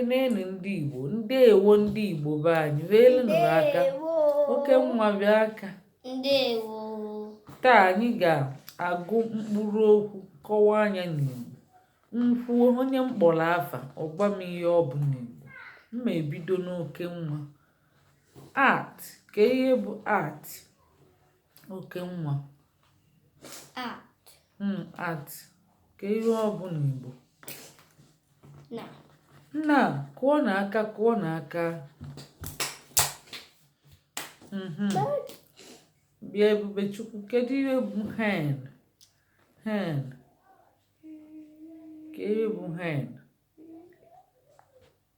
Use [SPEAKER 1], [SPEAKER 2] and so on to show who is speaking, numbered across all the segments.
[SPEAKER 1] Ekenenụ ndị Igbo, ndeewo ndị Igbo be anyị, weelụnụ aka, Okenwa bịa aka. Ndewo.
[SPEAKER 2] Taa
[SPEAKER 1] anyị ga-agụ mkpụrụ okwu kọwaa nya n'Igbo. M kwuo, onye m kpọrọ afa, ọ gwa m ihe ọ bụ n'Igbo. M ma-ebido n'Okenwa. At, kee ihe bụ at? Okenwa.
[SPEAKER 2] At.
[SPEAKER 1] Mm, at. Kee ihe ọ bụ
[SPEAKER 2] n'Igbo. Na.
[SPEAKER 1] Na, kụọnụ aka, kụọnụ aka. Mhm. Bịa Ebubechukwu, kedu ihe bụ hen? Hen. Kee ihe bụ hen?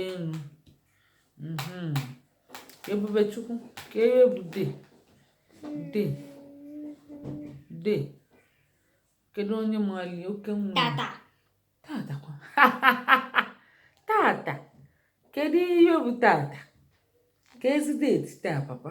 [SPEAKER 1] elu mhm. Ebubechukwu kee ihe bụ day day day kedu onye mali Okenwa
[SPEAKER 2] tata tata
[SPEAKER 1] kwa tata kedu ihe bụ tata ka ezi deti taa papa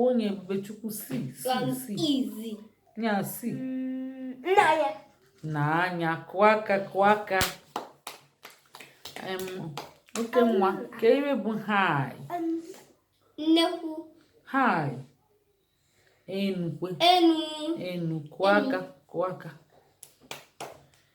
[SPEAKER 1] Onye Ebubechukwu see see
[SPEAKER 2] see. Nya
[SPEAKER 1] see. Nee
[SPEAKER 2] anya. Nee
[SPEAKER 1] anya kụọ aka kụọ aka. Okenwa kee ihe bụ high.
[SPEAKER 2] Nnekwu. High.
[SPEAKER 1] Enukwe. Enu.
[SPEAKER 2] Enu kụọ
[SPEAKER 1] aka kụọ aka.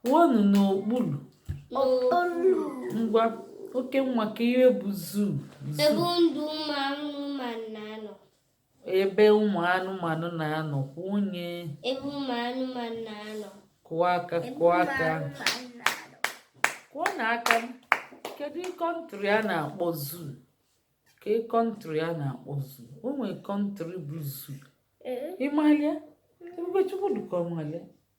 [SPEAKER 1] Kwuonụ n'okpuru. Ngwa Okenwa kee ihe bụ zoo. Ebe
[SPEAKER 2] ndụ ụmụ anụmanụ na-anọ. Ebe
[SPEAKER 1] ụmụ anụmanụ na-anọ kwuo nye. Ebe ụmụ
[SPEAKER 2] anụmanụ na-anọ. Kụọ
[SPEAKER 1] aka kụọ aka. Kụọnụ aka m. Kedu country a na-akpọ zoo? Kee country a na-akpọ zoo? O nwere country bụ zoo. Ị malị ya? Ebubechukwu dịka ọ malị ya.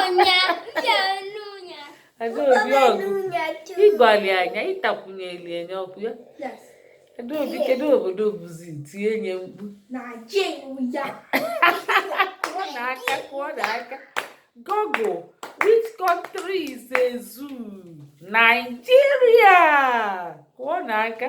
[SPEAKER 2] Ọnya, ya enu
[SPEAKER 1] ya. Adaobi ọgụ ị gwali nya ị takwunyeli nye okwu a Adaobi kedu obodo ọ bụzi tie nye mkpu kụọnụ aka kụọnụ aka Google which country is a zoo Nigeria kụọnụ aka